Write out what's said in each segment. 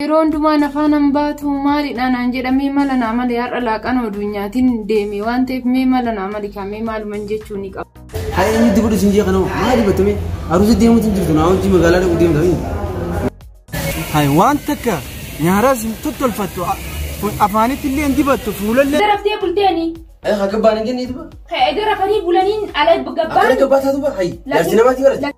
Yeroo hundumaa nafaa nan baatu maalidha naan jedha mee mala naa mali har'a laaqan oduunyaatiin deeme waan ta'eef mee mala naa mali kaa mee maaluman jechuu ni qaba. Haa inni itti fudhu siin jee kanoo maa dibatame aruusa deemuutu hin jirtu naa hojii magaalaa dhaquu deemtanii. Hay waan takka nyaaraas hin tottolfattu afaanitti illee hin dibattu fuulallee. Daraftee bulteeni. Ay haa gabbaan hin jennee duba. Egaa rafanii bulaniin ala gabbaan. Akka gabbaa taatu bara hayi. Jaarsi namaatii bara.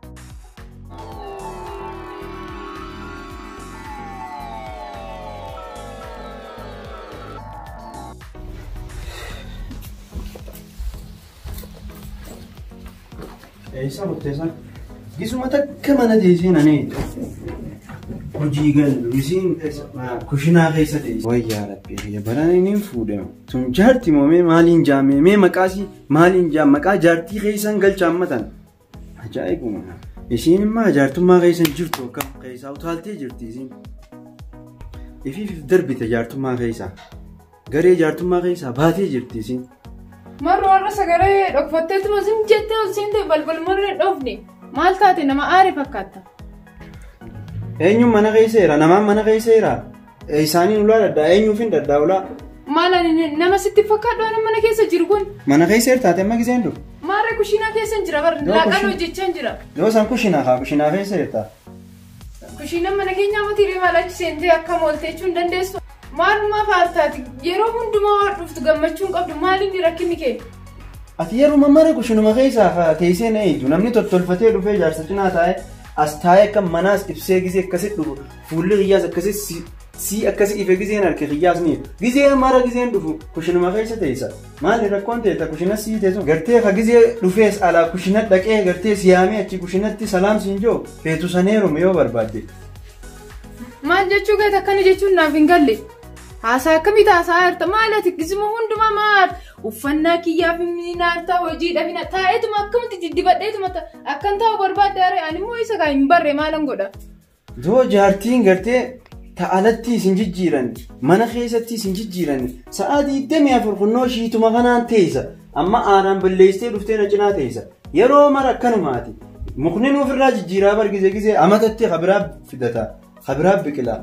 Eessa murteessan? Gisuma takka mana teessee nani. Hojii galu isiin kushinaa keessa teesse. Wayyaa rabbi biyya baraan inni hin fuudhamu. Sun jaarti moo mee maaliin jaamee mee maqaasii maaliin jaam maqaa jaartii keessan galchaan matan. Ajaa'ibuma. Isiin immoo jaartummaa keessa hin jirtu akkam keessaa utaaltee jirti isiin. Ifiif darbite jaartummaa keessaa. Garee jaartummaa keessaa baatee jirti isiin. Marru warra sagalee dhokfatteetti masin jettee ol seentee balbal marree hin dhoofne. Maal taate nama aare fakkaatta? Eenyuun mana keessa jira? Namaan mana keessa jira? Isaaniin ulaa dhadhaa eenyuufin dhadhaa ulaa? Maal ani nama sitti fakkaadhu ani mana keessa jiru kun. Mana keessa hirtaate amma giseen dhufu. Maarree kushiinaa keessa hin jira bar Yoo laaqaan kushiin- hojjechaa hin jira. Yoo isaan kushinaa haa kushinaa keessa hirtaa. Kushiinaan mana keenyaa mati hiree maal achi seentee akka mooltee jechuun dandeessu. Maalumaa faartaati yeroo hundumaa waan dhuftu gammachuu hin qabdu maalinni rakkinni kee. Ati yeruma mara kushinuma keessaa haa teessee na eegdu namni tottolfatee dhufee jaarsa cinaa taa'ee as taa'ee akka manaas ibsee gisee akkasitti dhufu Fuulli kiyyaas akkasi si- sii akkasi ife gizeen harki kiyyaas ni ife. Gizee mara gizeen dhufu kushinuma keessa teessa. Maali rakkoon teessa kushina sii teessu. Gartee ka gizee dhufees alaa kushina dhaqee gartee siyaamee achi kushinatti salaam siin jiru feetu saneeruma yoo barbaadde. Maal jechuu keeti akkana jechuun naaf hin galle. Haasaa akkamitti haasaa jirta? Maal ati gizuma hundumaa maal? Uffannaa kiyyaaf ni naartaa hojii dhabina taa'eetuma akkamitti diddibadheetuma ta- akkan taa'u barbaadde aree ani immoo isa kaa hin barre maalan godha? Yoo jaartiin gartee ta alatti isin jijjiiran mana keessatti isin jijjiiran sa'aa 24 kunnoo shiituma kanaan teessa amma aanaan balleessitee dhuftee na cinaa teessa yeroo mara akkanumaati mukni nuuf irraa jijjiiraa bargise gisee amatatti kabiraa fidata kabiraa biqilaa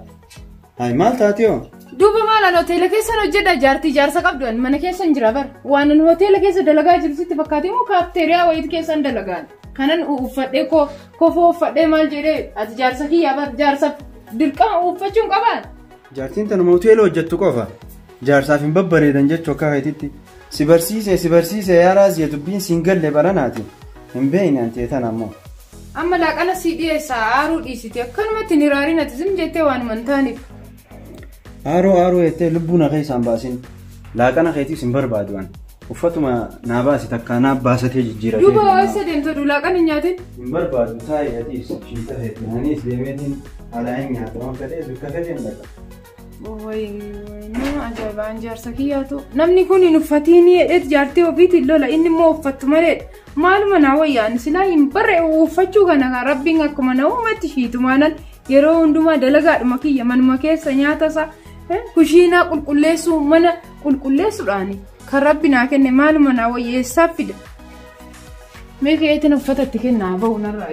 Hayi maal taatiyoo? Duuba maal an hoteela keessan hojjedha jaartii jaarsa qabdu an mana keessan jira bar. Waan an hoteela keessa dalagaa jiru sitti fakkaatee moo kaafteeriyaa wayiit keessan dalagaan. Kanan uffadhee koo kofoo uffadhee maal jedhee ati jaarsa kiyya bar jaarsa dirqama uffachuun qabaan. Jaartiin tanuma hoteela hojjettu qofa. Jaarsaaf hin babbareedan jechuu akka keetitti. Si barsiise si barsiise yaa Raaziya dubbiin siin galle baranaati. Hin beeyne anti etan ammoo. Amma laaqana sii dhiyeessa aaruu dhiisiti akkanumatti hin hiraarin ati zim jettee waanuma hin taaneef. Aaruu aaruu jettee lubbuu na keessaa hin baasin. Laaqana keetiis hin barbaadu an. Uffatuma naa baasi takkaa naa baasatee jijjiiratee. Duuba waa isa deemta du laaqana hin nyaatin. Hin barbaadu taa'ee atiis shiita keetiin aniis deemeetiin alaa hin nyaatu waan fedhees bakka fedheen dhaqa. Ajaa'ibaan jaarsa kiyyaatu namni kun hin uffatiin hidheet jaartii ofiitiin lola inni immoo uffattu malee maaluma naa wayyaan silaa hin barre uffachuu kana kan rabbiin akkuma na uumatti shiitumaanan yeroo hundumaa dalagaadhuma kiyya manuma keessa nyaata isaa kushiinaa qulqulleessuu mana qulqulleessuudhaani kan rabbi naa kenne maaluma naa wayya eessaa fida mee keetiin uffata itti kennaa bahu narraa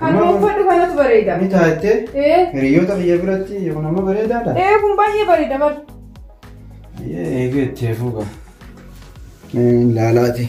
Kanuma uffadhu kanatu bareeda. Ni taattee Ee, hiriyoota biyya biratti kun amma bareedaadha. ee kun baay'ee bareeda bar. Eegee itti hafuu qaba. Laalaati.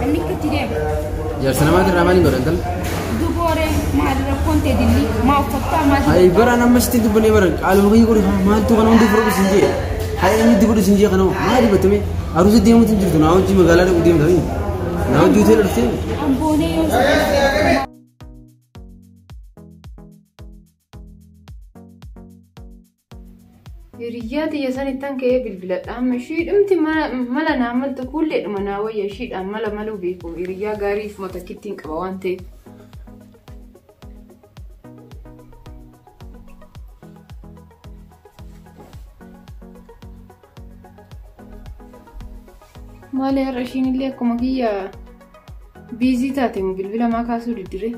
Namni itti deema. Jaarsa namaati irraa maaliin godhan tal? Dubooree maal rakkoon ta'e dilli maa uffachaa maal Ayi baraan amma sitti dubbannee baran qaaluma kiyya godhe maaltu kana hundi fudhu isin jee. Hayi inni itti fudhu isin jee kana maa dubbattame aruusa deemuutu hin jirtu naa hojii magaalaa dhaquu deemtanii. Naa hojii hoteela dhuftee. amboonee yoo ta'e. Hiriyyaa tiyya sanittan ka'ee bilbiladha amma ishiidhumti mala naa maltu kuulleedhuma naa wayya ishiidhaan mala maluu beeku hiriyyaa gaarii ifuma takkittiin qaba waan ta'eef. Maali har'a ishiin illee akkuma kiyya biizii taate moo bilbila maa kaasuu diddiree?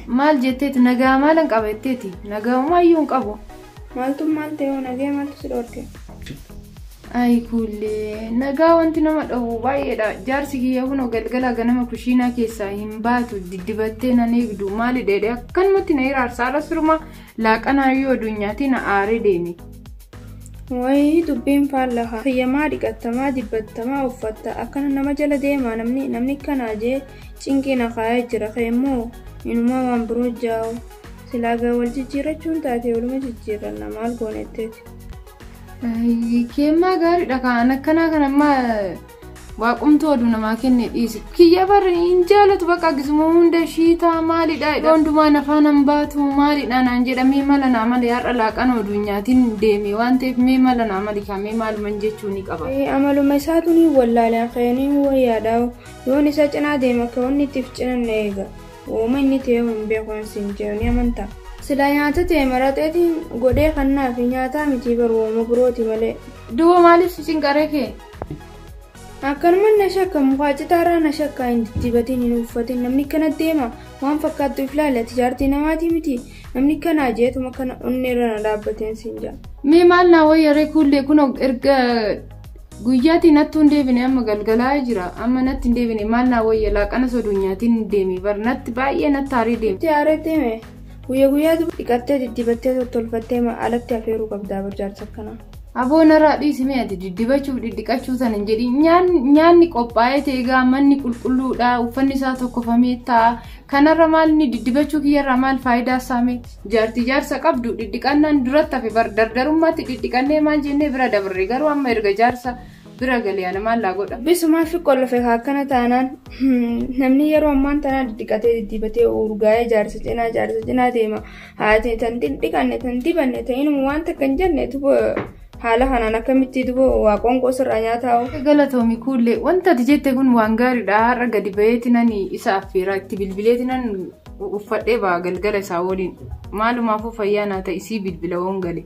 Maal jetteeti nagaa maalan qaba jetteeti nagaa umaayyuu hin qabu. Maaltu maal ta'e hoo nagaa maaltu si dhorke? Ayi kuullee nagaa wanti nama dhowwu baay'eedha jaarsi kiyya kunoo galgala ganama kushiinaa keessaa hin baatu diddibattee nan eegdu maali dheedhe akkanumatti na hiraarsa ala sirumaa Laaqanaa yoo adunyaatii na aaree deeme. Wayii dubbiin faalla haa. Fayyamaa dhiqattamaa jibbattamaa uffatta akkana nama jala deemaa namni namni akkanaa jee cinqii na kaayee jira keemmoo inumaa waan biroo jaa'u silaa gaa wal jijjiirrachuun taatee waluma jijjiirranna maal goonetteeti. Keemmaa gaariidha kaan akkanaa kanammaa. Waaqumtuu oduu namaa kenne dhiisi. Kiyya bar hin jaalatu bakka akkasuma hunda shiitaa maalidha jedha. Hundumaa nafaan hin baatu maalidha naan jedha mee mala naa mali har'a laaqan oduu nyaatiin deeme waan ta'eef mee mala naa mali kaa mee maaluman jechuu ni qaba. Amaluma isaatu ni wallaale akayanii wayyaadhaawo yoon isa cinaa deema akka wanni itti of cinan na eega. Wooma inni ta'ee hin beeku waan siin jedhu ni amantaa. Silaa nyaata ta'e maraxeetiin godhee kannaafi nyaataa mitii bar wooma birooti malee. Duuba maaliif si cinqaree kee? akkanuman na shakka mukaa citaarraa na shakka hin diddibatiin hin uffatin namni akkana deema waan fakkaattu if laali ati jaartii namaatii miti namni akkanaa jeetuma kana onneerra na dhaabbateen siin jaa mee maal naa wayyaree kuullee kun erga guyyaatii nattuu hin deebine amma galgalaa jira amma natti hin deebine maal naa wayya laaqana soduunyaatiin hin deemi bar natti baay'ee natti haarii deemi. Itti haareettee mee guyya guyyaatu dhiqattee diddibattee tottolfattee alatti afeeruu qabdaa barjaarsa akkanaa. Aboo naraa dhiisi mee ati diddibachuuf dhidhiqachuu san hin jedhin nyaanni qophaa'ee teegaa manni qulqulluudha uffanni isaa tokkofamee ta'a kanarra maal inni diddibachuu kiyyarraa maal faayidaa isaa mee jaartii jaarsa qabdu dhidhiqannaan duratti hafe bar dardarummaatti dhidhiqannee maal jennee bira dabarre garuu amma erga jaarsa bira galee ana maal laa godha. Bisumaa fi qollofe akkana taanaan namni yeroo ammaan tanaa dhidhiqatee diddibatee urgaa'ee jaarsa cinaa jaarsa cinaa deema. Haati tan dhiqanne tan dibanne ta'in waan takka hin jenne duba haala kanaan akkamitti duba waa qoonqoo sirraa nyaataa Galatoomi kuullee wanta ati jette kun waan gaariidha har'a gadi ba'eeti nan isa affeera itti bilbileeti nan uffadhee ba'a galgala isaa waliin maalumaafuu fayyaa naa ta'isii bilbila woon gale.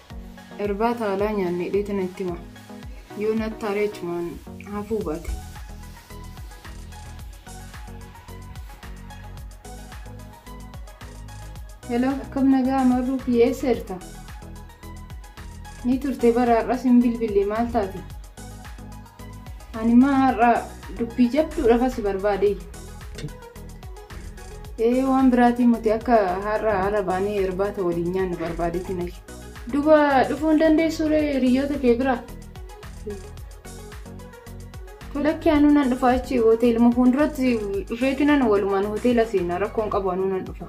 Irbaata alaa nyaanne hidheeti natti hima. Yoo natti aaree achumaan hafuu baate. Hello, akkam nagaa marruu kiyya eessa jirta? Ni turte bara har'as hin bilbille maal taate? Ani maa har'a dubbii jabduudhaaf asi barbaade. Ee waan biraatiin muti akka har'a ala baanee irbaata waliin nyaannu barbaadeetiin ashi. Duba dhufuu hin dandeessuure hiriyoota kee bira. Lakki anuu nan dhufa achi hoteeluma fuulduratti dhufeetinan walumaan hoteela seena rakkoon qabu anuu nan dhufa.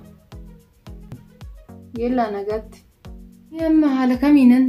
Yellaa nagaatti. Amma haala kamiinan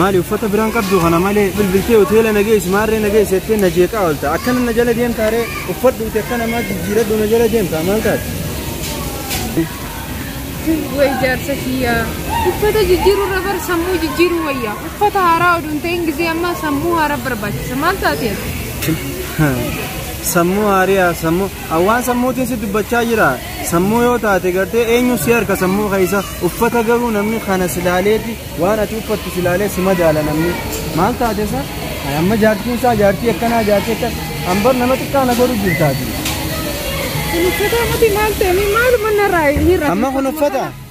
maali uffata biraan qabdu kana malee bilbiltee hoteela na geessi maarree na geessi jettee na jeeqaa oolta akkana na jala deemtaa ree uffadhuuti akka namaa jijjiiradhu na jala deemtaa maal taate Way jaarsa kiyyaa. Uffata jijjiiruu irra bar sammuu jijjiiruu wayya. Uffata haaraa oduu hin ta'in gisee ammaa sammuu haaraa barbaachisa. Maal taatee? sammuu haariyaa sammuu An waan sammuutiin si dubbachaa jira. Sammuu yoo taate gartee eenyu si harka sammuu keessa uffata garuu namni kana si laaleeti waan ati uffattu si laalee si madaala namni. Maal taate sa? Ay, Amma jaartiin isaa jaartii akkanaa jaartii akka an bar nama xiqqaa na godhu jirtaati. Kun uffata miti maal ta'e maaluma narraa hin Amma kun uffata?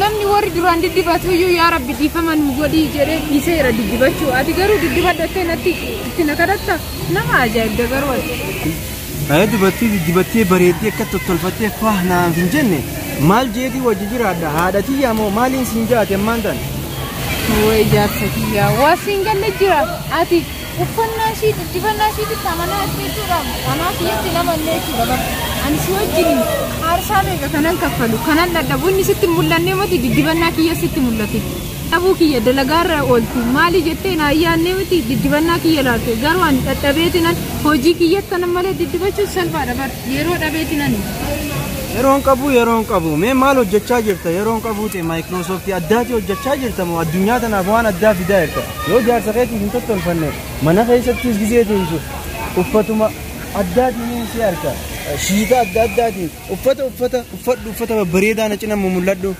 Namni warri duraan diddibatu iyyuu yaa rabbi dhiifama nu godhii jedhee dhiiseera diddibachuu. Ati garuu diddibadhu jettee natti itti na kadhatta nama ajaa'ibda garuu ati. Haa dubartii diddibattee bareeddee akka tottolfattee faah naaf hin jenne maal jeetii wajji jiraadha haadha tiyyaa moo maaliin siin jaate ammaan tan. Way jaarsa kiyyaa waa siin galle jira ati. Uffannaa ishii, guddifannaa ishiititti amanaa jirti jechuudha. Anaa siyyatti nama illee jechuudha bara. Ani si wajjin aarsaa meeqa kanan kaffalu, kanan dhadhabu, inni sitti hin mul'annee miti diddibannaa kiyya sitti mul'ate. Dhabuu kiyya dalagaarra oolti. Maali jettee naa yaannee miti diddibannaa kiyya laalte. Garuu ani dhadhabeetinan hojii kiyyatti kanan malee diddibachuun salphaadha bara. Yeroo dhabeetinan. Yeroon qabu yeroon qabu mee maal hojjechaa jirta yeroon qabu ta'e maayikiroosooftii addaati hojjechaa jirta moo addunyaa tanaaf waan addaa fidaa jirta Yoo jaarsa keetiif hin tottolfanne mana keessattis gizee teessu uffatuma addaatiin si harka shiita adda addaatiin uffata uffata uffadhu uffata babbareedaa na cina mul'adhu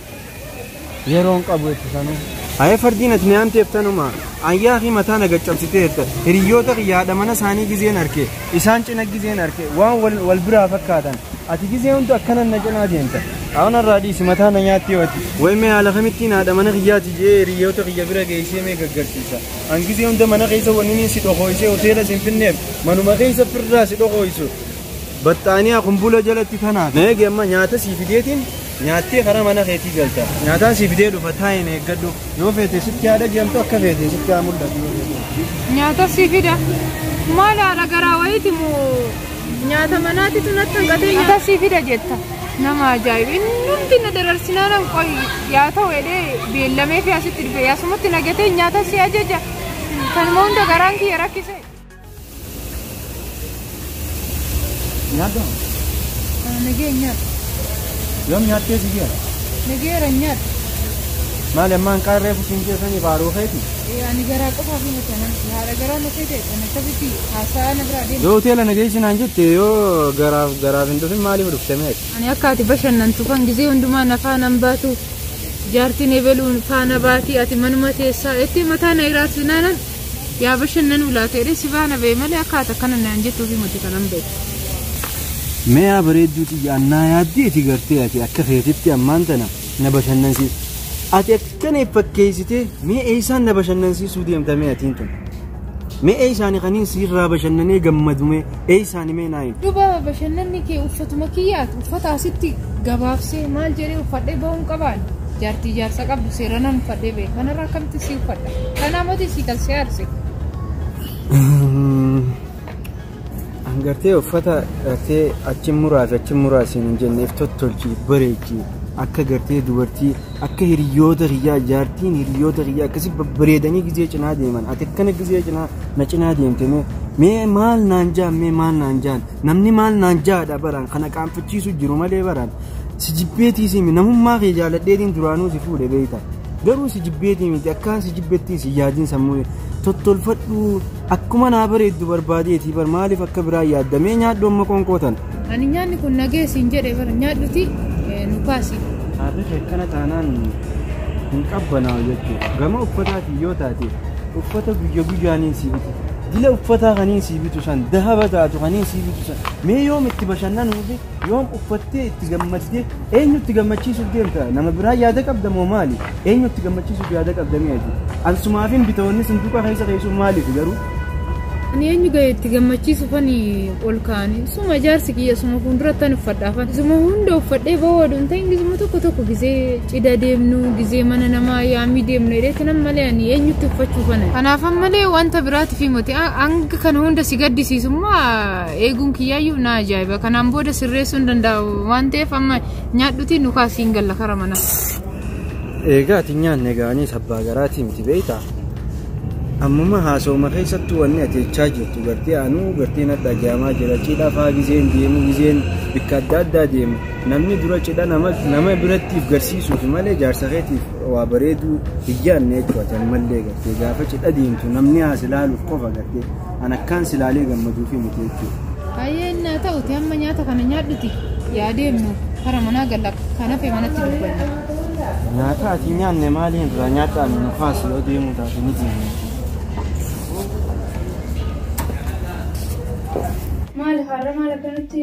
yeroon qabu itti sanuu. Ayee fardiin ati nyaamteef tanuma ayyaa fi mataa na gaccabsiteerta hiriyyoota kiyyaadha mana isaanii gizeen harke Isaan cina gizeen arke waan wal, wal biraa fakkaatan. Ati gizee hunda akkanan na cinaa deemta. Aana irraa dhiisi mataa na nyaatti yoo ati. Way mee haala kamittiin haadha mana kiyyaati je'ee hiriyoota kiyya bira geessee mee gaggarsiisa. An gizee hunda mana keessa wanniin si dhokooysee hoteela sin finneef manuma keessa firraa si dhokooysu. Baxxaaniyaa kumbula jalatti tanaa. Na eegi amma nyaata sii fideetiin Nyaattee karaa mana keetii galta. Nyaataan si fidee dhufa taa'in eeggadhu. Yoo feete sitti haa dhageemtu akka feete sitti haa mul'atu. Nyaata si fida. Maal haadha garaa wayiiti moo nyaata manaatitu natti hanqatee nyaata si fida jetta. Nama ajaa'iba. Inni hundi na dararsinaanan qoy yaa ta'u jedhee beellamee fi asitti dhufe. Asumatti nagatee nyaata si ajaja. Kanuma hunda garaan kiyya rakkise. Nyaadha. Nagee nyaadha. Yoom nyaattee si geera? Nageera nyaadha. Maali ammaan qaarree fusiin keessanii faaruu keeti? Ani garaa qofa fi matanan haadha garaa na seete kan akkasitti haasaa na biraa deema. Yoo hoteela nageessi naan jette yoo garaaf garaaf hin dhufin maaliif dhuftame ati? Ani akka ati bashannantu kan gizee hundumaa na faana hin baatu. Jaartiin ebeluun faana baati ati manuma teessaa jettee mataa na hiraarsinaanan Yaa bashannanuu laata jedhee si faana ba'e malee akka ati akkana naan jettuufi miti kanan ba'e. Meeyaa bareedduu xiyya annaa yaaddeeti gartee ati akka keetitti ammaan tana na bashannansiisa. Ati akkana if fakkeessitee mee eessaan na bashannansiisuu deemta mee atiin tun. Mee eessaani kaniin siirraa bashannanee gammadumee. Eeysaani mee naa himi. Duba bashannanni kee uffatuma kiyyaati uffata asitti gabaabsee maal jedhee uffadhee bahuun qabaan jaartii jaarsa qabdu seeranan uffadhee bahe kanarra akkamitti si uffadha kanaa moti si kan si aarse An gartee uffata gartee achi muraas achi muraas hin jenneef tottolchi bareechi akka gartee dubartii Akka hiriyoota kiyyaa jaartiin hiriyoota kiyyaa akkasi babbareedanii gizee cinaa deeman ati akkana gizee cinaa na cinaa deemte mee mee maal naan jaan mee maal naan jaan namni maal naan jaadha baraan kana qaanfachiisu jiru malee baraan si jibbeetii siimi namummaa kee jaaladheetiin duraanuu si fuudhe beeyta garuu si jibbeetii miti akkaan si jibbettiin si yaadiin sammuu tottolfadhuu Akkuma naa bareeddu barbaadeeti bar maaliif akka biraa yaadda mee nyaadhu amma qoonqoo tana. Ani nyaanni kun nagee siin jedhe bara nyaadhuti eh, nu kaasi. Haarrifi akkana taanaan hin qabbanaa'u jechuudha. Gama uffataatiin yoo taate uffata guyya guyyaaniin sii bitu. Jila uffataa kaniin sii bitu san dahaba taatu kaniin sii bitu san mee yoom itti bashannanuufi Yoom uffattee itti gammaddee eenyutti gammachiisuuf deemta? Nama biraa yaada qabda moo maali? Eenyutti gammachiisuuf yaada qabda mee ati? Ansumaafin bitoonni sunduqa keessa keessuun maaliif garuu? Ani eenyu ga'e itti gammachiisuuf ani ol kaa'anii suma ijaarsi kiyya suma fuulduratti ani uffadhaafan suma hunda uffadhee ba'uu oduu hin ta'in gizuma tokko tokko gizee cida deemnu gizee mana namaa yaamii deemnu jedheetti nan malee ani eenyutti uffachuufan kanaafan malee wanta biraatiif himate hanga kana hunda si gaddisiisummaa eeguun kiyyaayyuu na ajaa'iba kanaan booda sirreessuun danda'a waan ta'eef amma nyaadhutii nu kaasiin galla kara mana. Eegaa ati nyaanne gaanii sabbaa garaatii miti beekta. Ammuma haasawuma keessattuu wanni ati jechaa jirtu gartee anuu gartee natti dhaga'amaa jira cidha faa gizeen deemu gizeen bikka adda addaa deemu namni dura cidha nama nama birattiif garsiisuuf malee jaarsa keetiif waa bareeduu hin yaadne jechuudha ammallee gartee gaafa cidha deemtu namni haas ilaaluuf qofa gartee An akkaan si laalee gammaduufii miti jechuudha. Hayyee innaa ta'uti amma nyaata kana nyaadhuti yaa deemnu kara manaa galla kan hafe manatti dubbanna. Nyaata ati nyaanne maaliin irraa nyaadhaan nu kaasi yoo deemuu taate ni deemna. Maali har'a maal akkanatti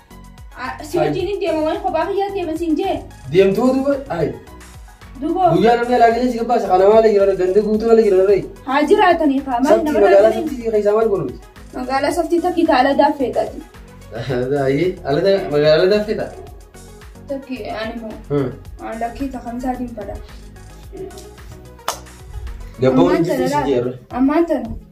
Si wajjin hin deema waan kophaa kiyyaa deema siin jee. Deemtuu duuba ayi. Duboo Guyyaa namni alaa galee si gabbaasa kana maala jiran ganda guutuu ala jiran ree. haa jiraatanii kaa maal Sabti nama magaalaa raafanii. sabti fi keessaa maal godhuuti? Magaalaa saftii takkii taa ala daaffeedhaati. Ayi alata magaalaa alata fedha. Takkii ani moo aan lakkii takamsaa diinfadha. Gabboon Ammaan jirti si tana jeerra. ammaan tana